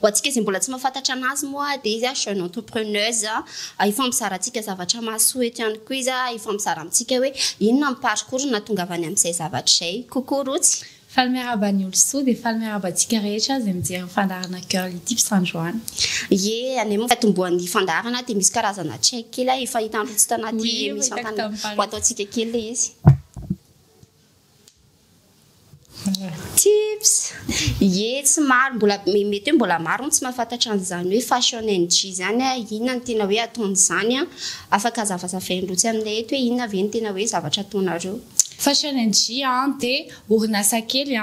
Ho antsika izay mbola tsy mahafantatra anazy moa dia izy jeune entrepreneuse hifampizara antsika zavatra mahasoa eto ihany koa izy hifampizara amintsika hoe inona ny parcours ny nahatongavany amin'izay zavatra izay. Coucou Rotsy. Faly miarahaba ny olosoa dia faly miarahaba antsika rehetra izay mijery ny fandaharana girl ity mpisandrahona. Ye, anay moa fiatombohan'ny fandaharana dia misy karazana check kely a, efa hitan'ny Rotsy tanaty emission tany, ho ataontsika kely ilay izy. Tips, Ie tsy maro mbola mety hoe mbola maro no tsy mahafantatra an'izany hoe fashion NG izany a, inona no tena hoe ataon'izany a, afaka zavazavainareo etsy aminay eto hoe inona ve no tena hoe zavatra ataonareo. Fashion NG dia orinasa kely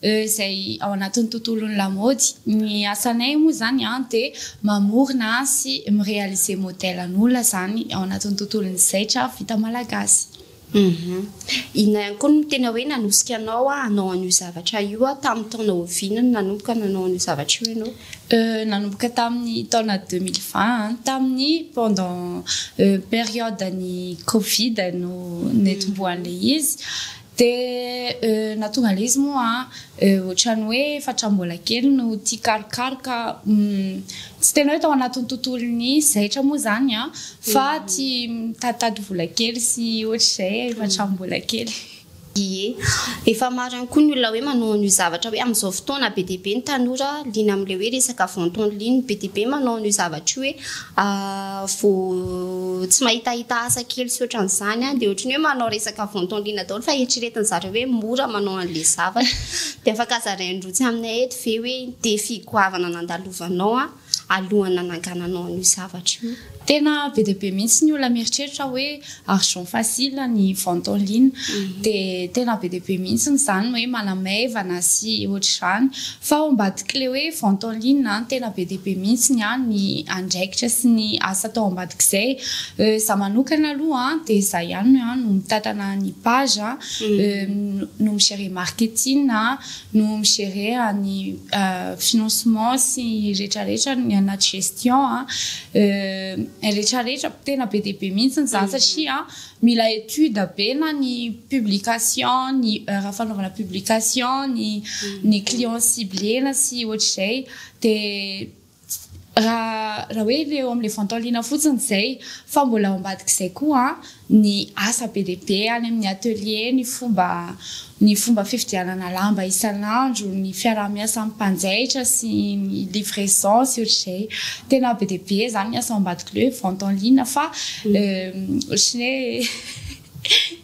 izay ao anatin'ny tontolon'ny lamaody. Ny asanay moa izany dia mamorona sy mi-realiser modèle an'olona izany ao anatin'ny tontolon'ny zaitra vita malagasy. Humm. Inona ihany koa no tena hoe nanosika anao hanao an'io zavatra io? Tamin'ny taona oviana no nanomboka nanao an'io zavatra io ianao? Euh, nanomboka tamin'ny taona deux mille vingt, tamin'ny pendant periode-n'ny covid no netombohan'ilay izy, dia euh nahatonga an'ilay izy moa an, Ohatran'ny hoe efatra mbola kely no tia karokaroka, tsy tena hoe tao anatin'ny tontolon'ny zaitra moa izany an, fa tia mitaditady vola kely sy ohatr'izay efa hatramin'ny mbola kely. Ie. Efa maro ihany koa ny olona hoe manao an'io zavatra hoe amin'izao fotoana be dia be ny tanora liana amin'ilay hoe resaka vente en ligne, be dia be manao an'io zavatra io hoe vao tsy mahitahita asa kely sy ohatran'izany an, dia ohatran'ny hoe manao resaka ventondrina daholo fa eritreretin'ny zareo hoe mora manao an'ilay zavatra, dia afaka zarain'ny roa tsy aminay eto ve hoe ny défi goavana nandalovanao an, alohan'ny nanangananao an'io zavatra io? Tena be dia be mihitsy ny olona mieritreritra hoe Argent facile ny vente en ligne dia tena be dia be mihitsy izany hoe manamaivana sy ohatr'izany fa ao ambadik'ilay hoe vente en ligne an tena be dia be mihitsy ny an ny andraikitra sy ny asa atao ambadik'izay za manokana aloha an dia za ihany no an no mitatana ny page an no mi-gere marketing an no mi-gerer an'i financement sy retraretra ny anaty gestion retraretra tena be dia be mihitsy ny zany satria mila étude be na ny publication ny heure fanaovana publication ny ny client ciblena sy ohatr'izay dia Raha raha hoe ilay eo amin'ilay ventolina fotsiny izay fa mbola ao ambadik'izay koa ny asa be dia be any amin'ny atelier, ny fomba ny fomba fividianana lamba isan'andro, ny fiaraha-miasa amin'ny mpanjaitra sy ny livraison sy ohatr'izay. Tena be dia be izany ny asa ao ambadik'ilay hoe ventolina fa ohatry ny hoe.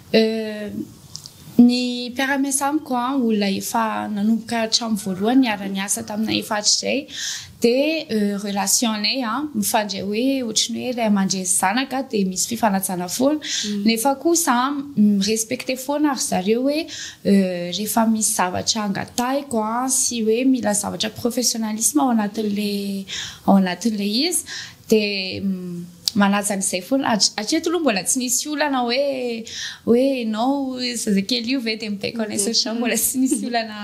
Euh. Ny mpiara-miasa amiko an, olona efa nanomboka hatramin'ny voalohany niara-niasa taminay efa hatrizay dia euh relation-nay an mifandray hoe ohatry ny hoe ray aman-dreny sy zanaka dia misy fifanajana foana nefa kosa an mi-respecter foana ry zareo hoe euh rehefa misy zavatra angatahiko an sy hoe mila zavatra professionnalisme ao anatin'ilay ao anatin'ilay izy Dia manaja an'izay foana. Hatreto aloha mbola tsy nisy olana hoe hoe ianao io zazakely io ve dia mibaiko anay satria izaho mbola tsy nisy olana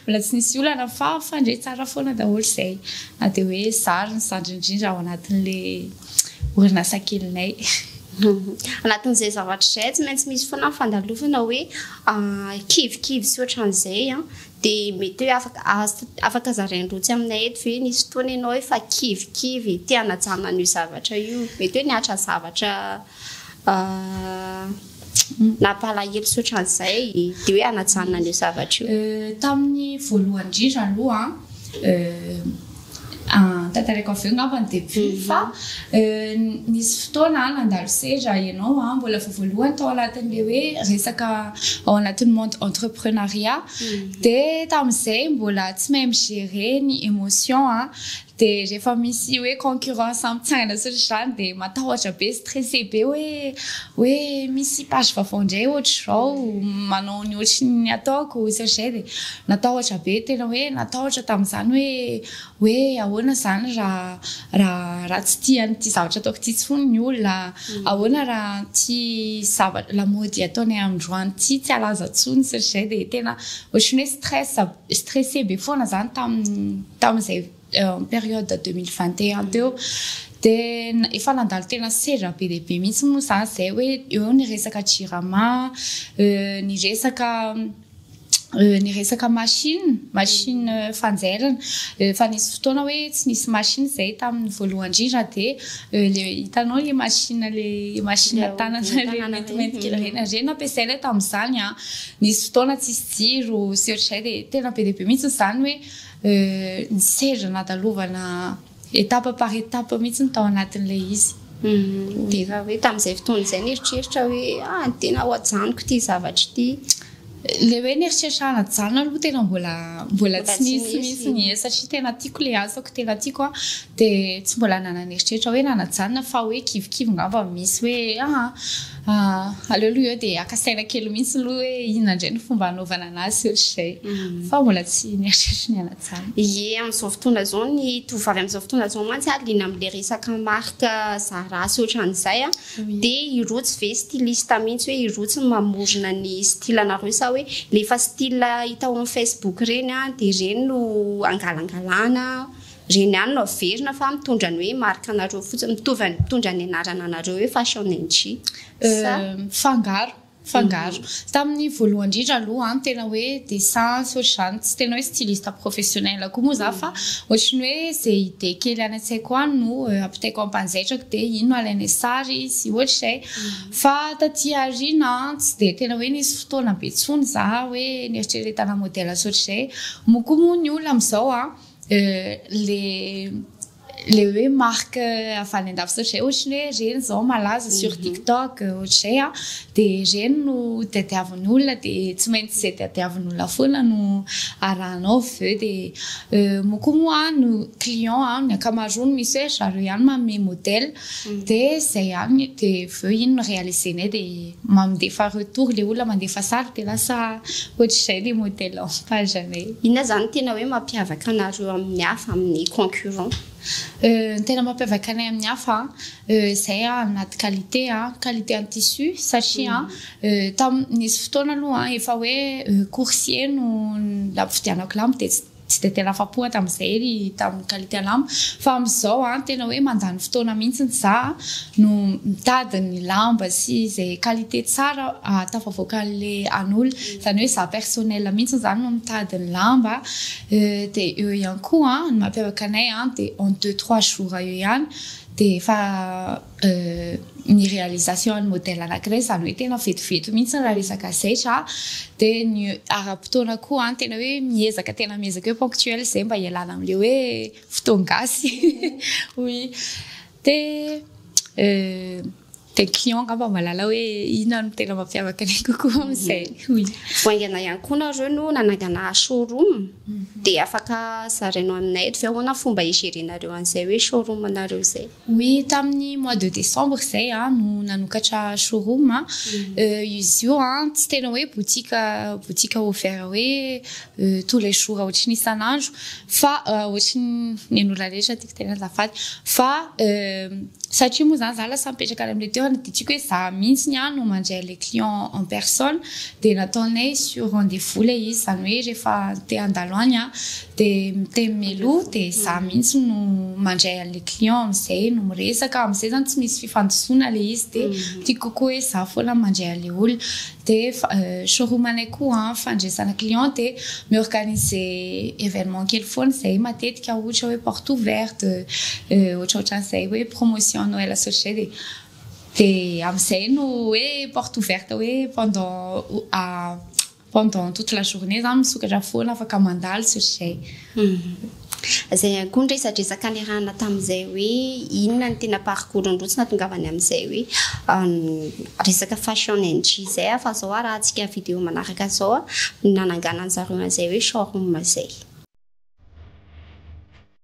mbola tsy nisy olana fa mifandre tsara foana daholo izay. Na dia hoe izaho ary ny zandriny indrindra ao anatin'ilay orinasa kelinay. Anatin'izay zavatra izay tsy maintsy misy foana ny fandalovana hoe kivikivy sy ohatran'izay an! Dia mety hoe afaka afaka zarainy roa tsy aminay eto ve? Nisy fotoana ianao efa kivikivy te hanajana an'io zavatra io? Mety hoe nihatra zavatra nampalahelo tsy ohatran'izay dia hoe hanajana an'io zavatra io? Tamin'ny voalohany indrindra aloha an, Ah, tantaraiko avy eo ngamba ny début mhm. fa euh, nisy fotoana ah, nandalo seza ianao a ah, mbola vao voalohany tao anatin'le hoe resaka ao anatin'ny monde entreprenariat mhm. de tamin'izay mbola tsy mahay migérer ny émotion a de rehefa misy hoe concurrence amitsangana sy zany de matahotra be stressé be hoe hoe misy page vaovao indray ohatr'izao manao ny ohatry ny ataoko sy zay de Natahotra be tena hoe natahotra tamin'izany hoe hoe ahoana izany raha raha raha tsy tia an'ity zavatra ataoko ity intsony ny olona, ahoana raha ity zava- lamaody ataonay androany ity tsy halaza intsony sy ny sisa dia tena ohatran'ny hoe stress stressé be foana izany tamin'ny tamin'izay période deux mille vingt et un teo dia efa nandalo tena sedra be dia be mihitsy moa izany izay hoe eo ny resaka jirama ny resaka ny resaka machine machine fanjairana efa nisy fotoana hoe tsy nisy machine izay tamin'ny voalohany indrindra dia le hitanao le machine le machine tanana le maintimainty kely ireny ireny nampiasaina tamin'izany a nisy fotoana tsisy jiro sy ohatr'izay dia tena be dia be mihitsy izany hoe ny seza nadalovana Étape par étape mihitsy ny tao anatin'ilay izy. Dia raha hoe tamin'izay fotoana izay nieritreritra hoe ah tena ho ajanoko ity zavatra ity. Ilay hoe nieritreritra hanajanona aloha tena mbola mbola tsy nisy mihitsy ny e satria tena tiako ilay asako tena tiako a dia tsy mbola nanana eritreritra hoe nanajanona fa hoe kivikivy ngamba misy hoe ah Ah, aleo aloha eo dia haka saina kely mihitsy aloha hoe inona indray ny fomba hanaovana anazy ohatr'izay. Mm. Fa mbola tsy nieritreritra ny hanatsara. Ie, amin'izao fotoana izao ny tovovavy amin'izao fotoana izao mantsy ah, liana amin'ilay resaka marika Zara sy ohatran'izay ah, Oui. dia i Roots ve styliste mihitsy hoe i Roots no mamorona ny style anareo sa hoe ilay efa style hita ao amin'ny Facebook ireny ah, dia ireny no angalangalana? Ireny ihany no averina fa mitondra ny hoe marque anareo fotsiny, mitovy an'ny mitondra ny anarana anareo hoe Fashion NG sa? Mifangaro, mifangaro. Tamin'ny voalohany indrindra aloha an, tena hoe dessin sy ohatr'izany, tsy tena hoe styliste professionnel koa moa za fa ohatry ny hoe izay idée kely any an-tsaiko any no ampitaiko ampanjaitrako dia iny no alainay sary sy ohatr'izay. Fa taty aoriana an, tsy dia tena hoe nisy fotoana be intsony za hoe neritreretana modèle sy ohatr'izay. Moa koa moa ny olona amin'izao an, le le hoe marque avy any an-dafy zao zay ohatry ny hoe reny zao malaza sur mhm. tiktok ohatr'izay a dia reny no tadiavin'olona dia tsy maintsy izay tadiavin'olona foana no arahanao avy eo dia euh, mo koa moa no client a ny ankamaroany misy hoe zareo ihany manome modèle mhm. dia izay ihany dia avy eo iny no réalisenay dia Mamdefa retour le olona mandefa sary de lasa ohatr'izay le modèle lampage anay. Inona zany tena hoe mampiavaka anareo amin'ny hafa, amin'ny concurrent? Ny tena mampiavaka anay amin'ny hafa zay anaty qualité, qualité ny tissu satria nisy fotoana aloha efa hoe coursier no nampividianako lamba dia tsy. Tsy dia tena afa-po aho tamin'izay ry tamin'i Khaliti Alam fa amin'izao an, tena hoe mandany fotoana mihitsy za no mitady ny lamba sy izay qualité tsara ahatafavoakan'le an'olona. Izany hoe za personnel mihitsy izany no mitady ny lamba dia eo ihany koa an, ny mampiavaka anay an dia en deux trois jours eo ihany dia efa. ny réalisation an'ny modèle anankiray izany hoe tena vetivety mihitsy raha resaka zaitra dia ny ara-potoana koa an tena hoe miezaka tena miezaka hoe ponctuel izay mba hialana amin'ilay hoe fotoana gasy oui dia dia client angamba mahalala hoe inona no tena mampiavaka anay kokoa amin'izay oui vao haingana ihany koa nareo no nanangana showroom mhm. dia afaka zarainao aminay eto ve ahoana fomba higerenareo an'izay hoe showroom anareo izay Oui, tamin'ny mois de décembre izay aho no nanokatra showroom. Izy io tsy tena hoe boutique boutique ouvert hoe tous les jours ohatry ny isan'andro fa ohatry ny an'ny olona rehetra tiako tenenina azafady fa satria moa izany izaho lasa mipetraka any amin'ilay toerana dia tiako hoe izaho mihitsy ihany no mandray an'ilay client en personne dia nataonay sur rendez-vous ilay izy izany hoe rehefa te handalo any aho Dia miteny mialoha dia izaho mihitsy no mandray an'ilay client amin'izay no miresaka, amin'izay izany tsy misy fifandisoana ilay izy dia mhm. tiako kokoa hoe izaho foana mandray an'ilay olona. Dia euh, showroom-anay koa an, fandresana client dia mi-organise événement kely foana izay matetika ohatra hoe porte ouverte, euh, ohatraohatran'izay hoe promotion Noël sy ohatr'izay dia dia amin'izay no hoe porte ouverte hoe pendant euh, Pendant toute la journée za misokatra foana afaka mandalo tsy ry zay. Zay ihany koa ny resadresaka niarahana tamin'izay hoe inona ny tena parcours-n'i Rotsy nahatongavany amin'izay hoe resaka fashion NG izay fa zao arahantsika video manaraka zao ny nananganan'zareo an'izay hoe showroom izay.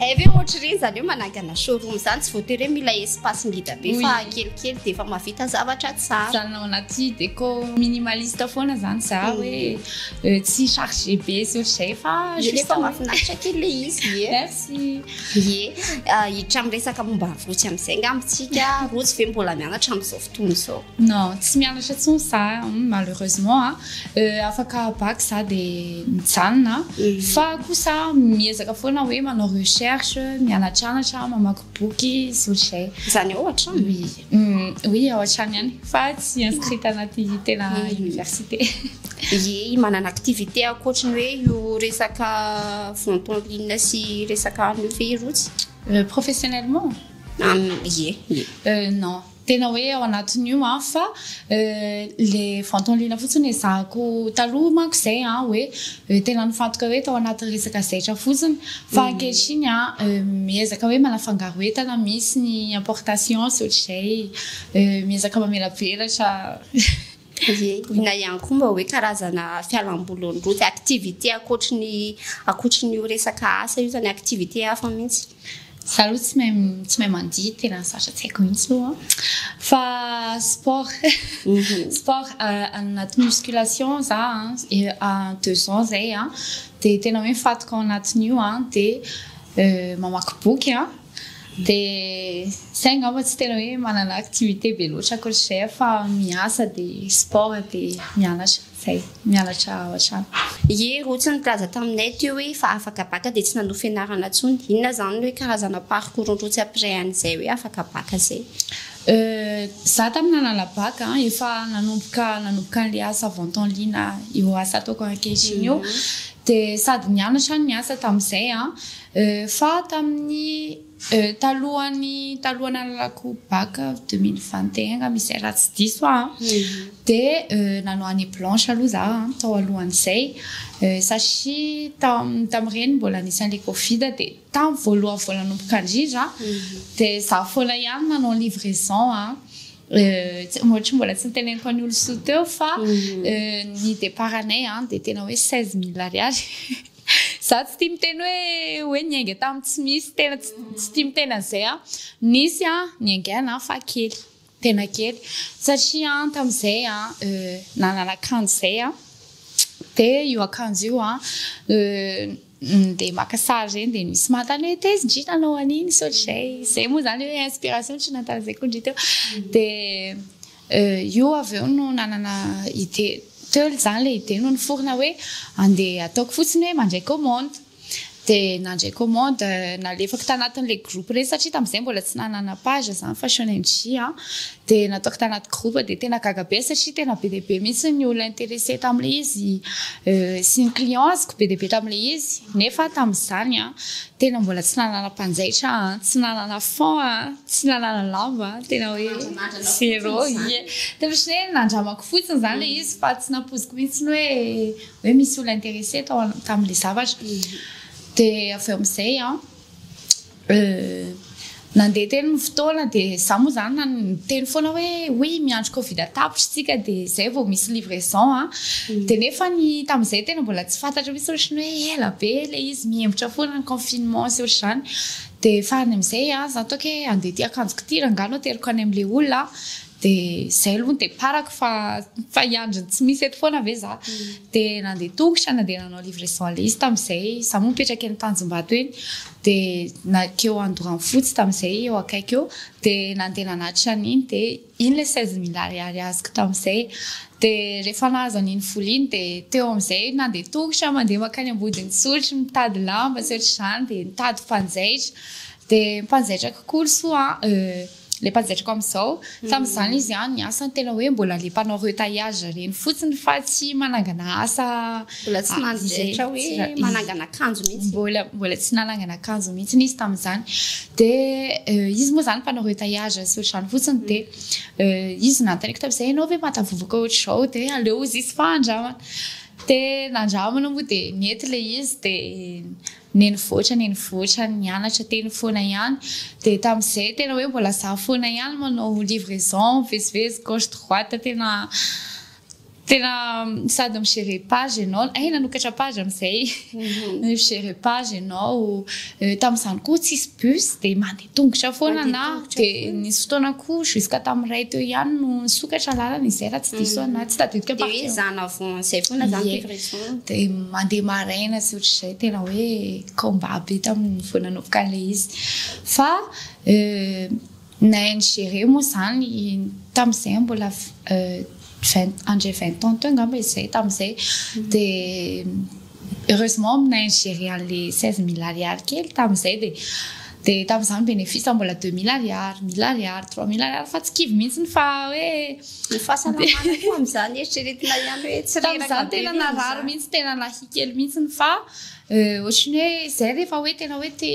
Eh ve ohatry ireny zany hoe manangana showroom izany tsy voatery hoe mila espace ngita be Oui. fa kelikely dia efa mahavita zavatra tsara. zany ao anaty déco minimaliste foana zany za Mm. hoe eh, tsy chargé be sy ohatr'izay fa Efa juste hoe- mahafinaritra kely le izy ie. merci Ie, ah, hiditra amin'ny resaka momba ny rotsy amin'izay angamba isika. Rotsy ve mbola mianatra amin'izao fotoana izao? Non, tsy mianatra intsony za, malheureusement a. Afaka bac za dia mijanona. Fa kosa miezaka foana hoe manao recherche, mianatranatra, mamaky boky sy ohatr'izay. Izany ao hatrany? Oui, oui ao hatrany ihany fa tsy inscrit tanaty tena université. Ieh, manana activité ankoatry ny hoe io resaka vente en ligne sy resaka an'io ve Rotsy? Professionnellement? Ieh, ieh. Non. Tena hoe ao anatin'io an, fa le vantany liana fotsiny ezahako taloha manko zay an, hoe tena nifantoka hoe tao anaty resaka zaitra fotsiny, fa ankehitriny an miezaka hoe manafangaro entana misy ny importation sy ohatr'izay, miezaka mamelavelatra. Ie, inona ihany koa mba hoe karazana fialamboly eo ny route, activité ankoatry ny ankoatry ny io resaka asa io zany, activité hafa mihitsy? Za aloha tsy mahay tsy mahay mandihy, tena sarotra tsy haiko mihitsy io an! Fa sport sport anaty musculation za an, deux ans zay an, dia tena hoe mifatoka ao anatin'io an, dia mamaky boky an, Dia zay angamba tsy tena hoe manana activité be loatra akory izay fa miasa dia sport dia mianatra zay mianatra ao an-trano. Ie rotsy nikaja taminay teo hoe efa afaka baka dia tsy nanohy fianarana tsony inona zany ny hoe karazana parcours ny rotsy après an'izay hoe afaka baka zay? Euh za tam nanana baka efa nanomboka nanomboka an'le asa vente en ligne io asa ataoko ankehitriny io dia sady nianatra no niasa tamin'izay an Fa tamin'ny talohan'ny taloha nalalako bac deux mille vingt et un angamba izay raha tsy diso aho an, dia nanao année blanche aloha za tao alohan'izay satria tam- tamin'ireny mbola nisy an'ilay covid dia tamin'ny voalohany vao nanomboka indrindra dia za foana ihany nanao livraison an, ohatry ny mbola tsy noteneniko an'i Olon-tsoa teo fa ny départ-nay dia tena hoe seize mille ariary. Za tsy tia miteny hoe hoe niainga tamin'ny tsy misy, tena tsy tia miteny an'izay aho. Nisy an, niaingaina an, fa kely, tena kely. Satria an, tamin'izay an, euh, nanana akanjo izay aho, dia io akanjo io an, euh, ndeha maka sary ireny dia nisy manontany hoe tezin-dry nanao an'iny, sao dry izay. Izay moa izany hoe inspiration tsy nahatarazaiko ny dry teo. Dia. Io avy eo no nanana idée, teo izany ilay idée no niforona hoe andeha ataoko fotsiny hoe mandray commande. Dia nandray commande, nalefako tanatin'ilay groupe ireny satria tamin'izay mbola tsy nanana page za Fashion and J a. Dia nataoko tanaty groupe dia tena gaga be aho satria tena be dia be mihitsy ny olona interessé tamin'ilay izy sy ny clients-ko be dia be tamin'ilay izy. Nefa tamin'izany an, Tena mbola tsy nanana mpanjaitra aho an, tsy nanana fonds an, tsy nanana lamba an, tena hoe zero, ie, dia ohatran'ny hoe nandramako fotsiny izany ilay izy fa tsy nampoiziko mihitsy hoe hoe misy olona intéressé tao tamin'ilay zavatra, dia avy eo amin'izay an, Nandeha teny ny fotoana dia za moa zany na niteny foana hoe oui miandry covid tapitra isika dia zay vao misy livraison a mm. dia nefa ny tamin'izay tena mbola tsy fantatra misy ohatry ny hoe ela be le izy mihembotra foana ny confinement sy ohatry zany dia farany amin'izay a za toke andeha ty akanjoko ty rangahy no ateriko any amin'le olona Dia izay aloha ny départ-ko fa fa hiandry ny tsy misy eto foana ve za. Dia nandeha tongotra, nandeha nanao livraison aller izy tamin'izay. Izaho moa mipetraka eny Tanjombato eny. Dia nankeo Andoranfotsy tamin'izay, eo akaiky eo. Dia nandeha nanatitra an'iny, dia iny ilay seize mille ariary azoko tamin'izay. Dia rehefa nahazo an'iny vola iny, dia teo amin'izay nandeha tongotra mandeha mankany Ambodin'isotry mitady lamba sy ohatra izany, dia nitady mpanjaitra. Dia mpanjaitra kokoa ry soa an. le pazetriko amizao fa mizany izy an ny asany tena hoe mbola le mpanao retaillage reny fotsiny fa tsy manangana asa mbola tsy manjetra hoe manangana akanjo mihitsy mbola mbola tsy nanangana akanjo mihitsy izy tamizany de euh, izy moa zany mpanao retaillage sy ohatrany fotsiny de euh, izy nanontaniako tamizay ianao ve matavovoka ohatr'izao de aleo izy izy fa andramana de nandramana moa de nety le izy de Nenivoatra nenivoatra nianatra teny foana ihany dia tamin'izay tena hoe mbola za foana ihany manao livraison mivezivezy gauche droite tena tena sady mi gérer page ianao hay nanokatra page amin'izay mi gérer page ianao tamin'izany koa tsisy bus dia mandeha tongotra foana na dia nisy fotoana koa jusqu'à tamin'ny iray teo ihany no nisokatra lalana izay raha tsy diso ana tsy tadidiko dia hoe zana vao izay foana zany livraison dia mandeha maraina sy ohatr'izay tena hoe combat be tamin'ny vao nanomboka an'ilay izy fa euh, na ingéré moa zany tamin'izay mbola euh, vingt andre vingt ans teo angamba izay tamin'izay mm. dia Heureusement aminay ny gérer an'le seize mille ariary kely tamin'izay dia dia tamin'izany ny bénéfice mbola deux mille ariary, mille ariary, trois mille ariary fa tsy kivy mihitsy fa hoe Ny fahasalamana koa amin'izany eritreretina ihany hoe tsy reraka be Tamin'izany tena narary mihitsy tena nahia kely mihitsy fa ohatran'ny hoe izay rehefa hoe tena hoe te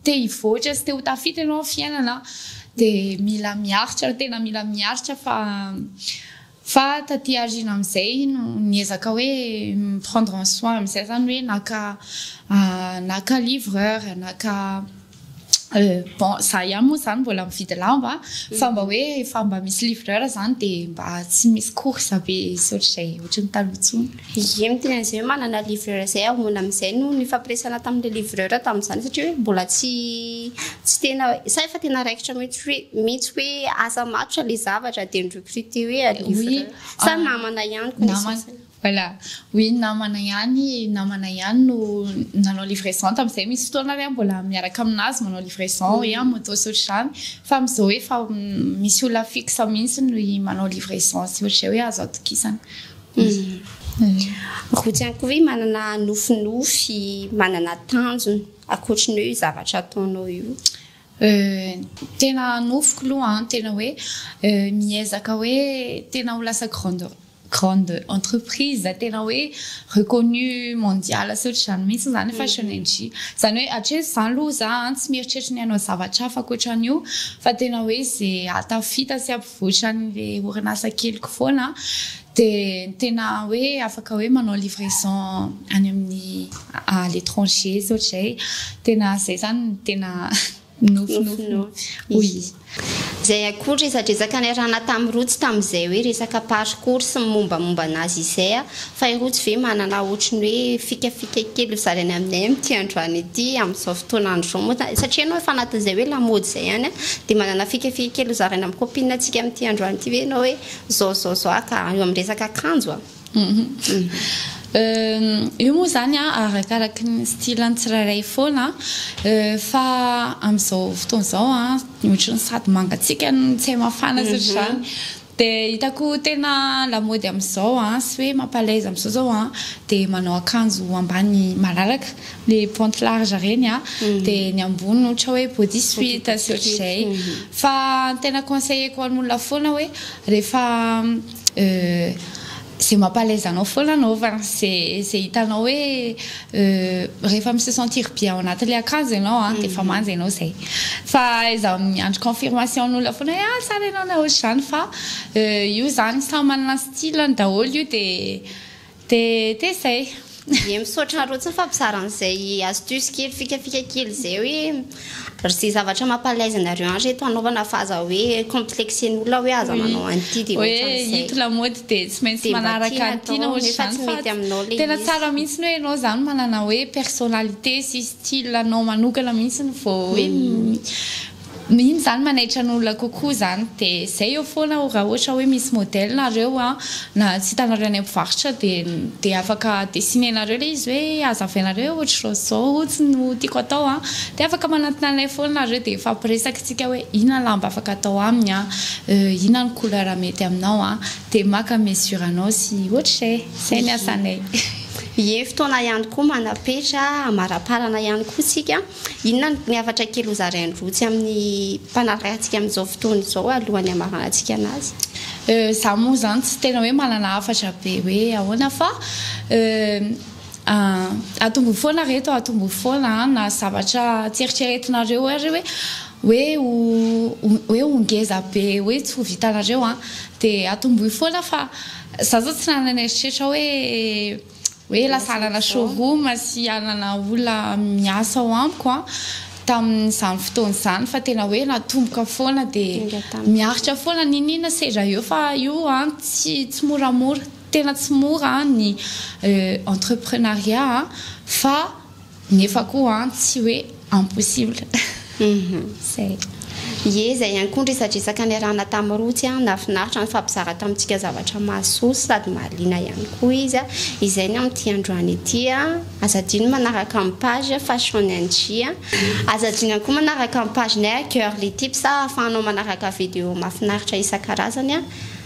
te hivoatra sy te ho tafita ianao amin'ny fiainana dia mila miaritra tena mila miaritra fa Fa taty aoriana amin'izay no niezaka hoe mi-prendre en soin amin'izay izany hoe naka naka livreur, naka bon za ihany moa izany mbola mividy lamba fa mba hoe efa mba misy livreur izany dia mba tsy misy course be ohatr'izay ohatry ny taloha intsony. Ie ny teny an'izay hoe manana livreur izay hamoana amin'izay no nifampiresahana tamin'ilay livreur tamin'izany satria hoe mbola tsy tsy tena sa efa tena raikitra mihitsy hoe mihitsy hoe asa matotra ilay zavatra dia ni-recruter hoe livreur sa ah, namana ihany connaissance Voilà, oui namana ihany namana ihany no nanao livraison tamin'izay misy fotoana ary aho mbola miaraka aminazy manao livraison hoe en moto sy ohatr'izany fa amin'izao hoe efa misy olona fixe mihitsy ny manao livraison sy ohatr'izay hoe azo atokisana. Rojo ihany koa ve manana nofinofy, manana tanjona ankoatry ny hoe io zavatra ataonao io? Tena nofiko aloha an, tena hoe miezaka hoe tena ho lasa grande grande entreprise tena hoe reconnu mondial sy ohatr'izany mihitsy izany ny fashion NJ. Izany hoe hatreto izany aloha za tsy mieritreritra ny hanao zavatra hafa ankoatran'io fa tena hoe ze hahatafita sy. Ohatran'le orinasa keliko foana an, de ny tena hoe afaka hoe manao livraison any amin'ny à l'étranger sy ohatr'izay, tena zay zany no tena nofinofy oui. Izay akory resadresaka niarahana tamin'i Roa tsy tamin'izay hoe resaka parcours sy ny mombamomba anazy izay an, Fa i Rojo ve manana ohatry ny hoe fikafika kely ho zarainy aminay amin'ity androany ity, amin'izao fotoan'andro izao moa izany? Satria ianao efa anatin'izay hoe lamaody izay ihany an! Dia manana fikafika kely ho zaraina amin'ny copine antsika amin'ity androany ity ve ianao hoe izao izao izao ah ka? Eo amin'ny resaka akanjo an! Euh, io moa izany an, arakaraky ny style an'ny tsirairay foana an! Euh, fa amin'izao fotoana izao an, ohatry ny sady mangatsiaka no tsy hay mafana sy ohatr'izany. Dia hitako tena lamaody amin'izao an, sy hoe mampalaiza amin'izao zao an, dia manao akanjo ambany malalaka, le pente large reny an, dia ny ambony ohatra hoe body suit sy ohatr'izay. Fa ny tena conseilleko an'olona foana hoe rehefa Ze mampalaiza anao foana anaova ze ze hitanao hoe rehefa mi se sentir bien ao anatin'le akanjo ianao an dia efa manja ianao zay fa izaho miandry confirmation n'olona foana hoe ah tsara ianao raha ohatr'izany fa io zany samy manana ny style-ny daholo io dia dia dia zay. Ye misaotra anrotsiny fa bizara an'izay astuce kely fikafika kely izay hoe rzay zavatra mampalaizy anareo any reto anaovana fa aza hoe complexen'ny olona hoe aza manao an'ity de ohatran'izay. Hito lamaody de tsy maintsy manaraka ny tiana ohatr'izany fa tena tsara mihitsy hoe ianao izany manana hoe personnalité sy style anao manokana mihitsy vao hoe Mino zany manaitra ny olona kokoa zany de zay eo foana o raha ohatra hoe misy modèle nareo a na tsy hitanareo any mpivarotra de de afaka dessiné-nareo le izy hoe azavainareo hoe ohatrizao sy zao otsiny no tiako atao a de afaka manantona anay foana nareo de hifampiresaka tsika hoe inona lamba afaka atao aminy a inona ny couleur mety aminao a de maka mesure anao sy ohatrizay zay ny asanay. Ie fotoana ihany koa manapetra amaraparana ihany koa tsika Inona no ny hafatra kely hozarain'i Rotsy amin'ny mpanarahantsika amin'izao fotoana izao alohan'ny hamaranantsika anazy? Za moa zany tsy tena hoe manana hafatra be hoe ahoana fa atomboy foana reto a, atomboy foana a, na zavatra tsy eritreretinareo ary hoe hoe ho hoe ho ngeza be hoe tsy ho vitanareo a, dia atomboy foana fa za zao tsy nanana eritreritra hoe. hoe lasa hanana showroom sy hanana olona miasa ao amiko tamin'izany fotoana izany fa tena hoe natomboka foana dia miaritra foana n'inon'inona seza eo fa io tsy tsy moramora tena tsy mora ny euh, entreprenariat fa Nefa koa an tsy hoe impossible. Zay. Ie zay ihany koa ny resadresaka niarahana tamin'i Rotsy an, nahafinaritra nifampizara tamintsika zavatra mahasoa sady mahaliana ihany koa izy an, izay ny amin'ity androany ity an, aza adino ny manaraka ny page fashionng an, aza adino ihany koa manaraka ny page nay girlytips ahafahanao manaraka video mahafinaritra isan-karazany an.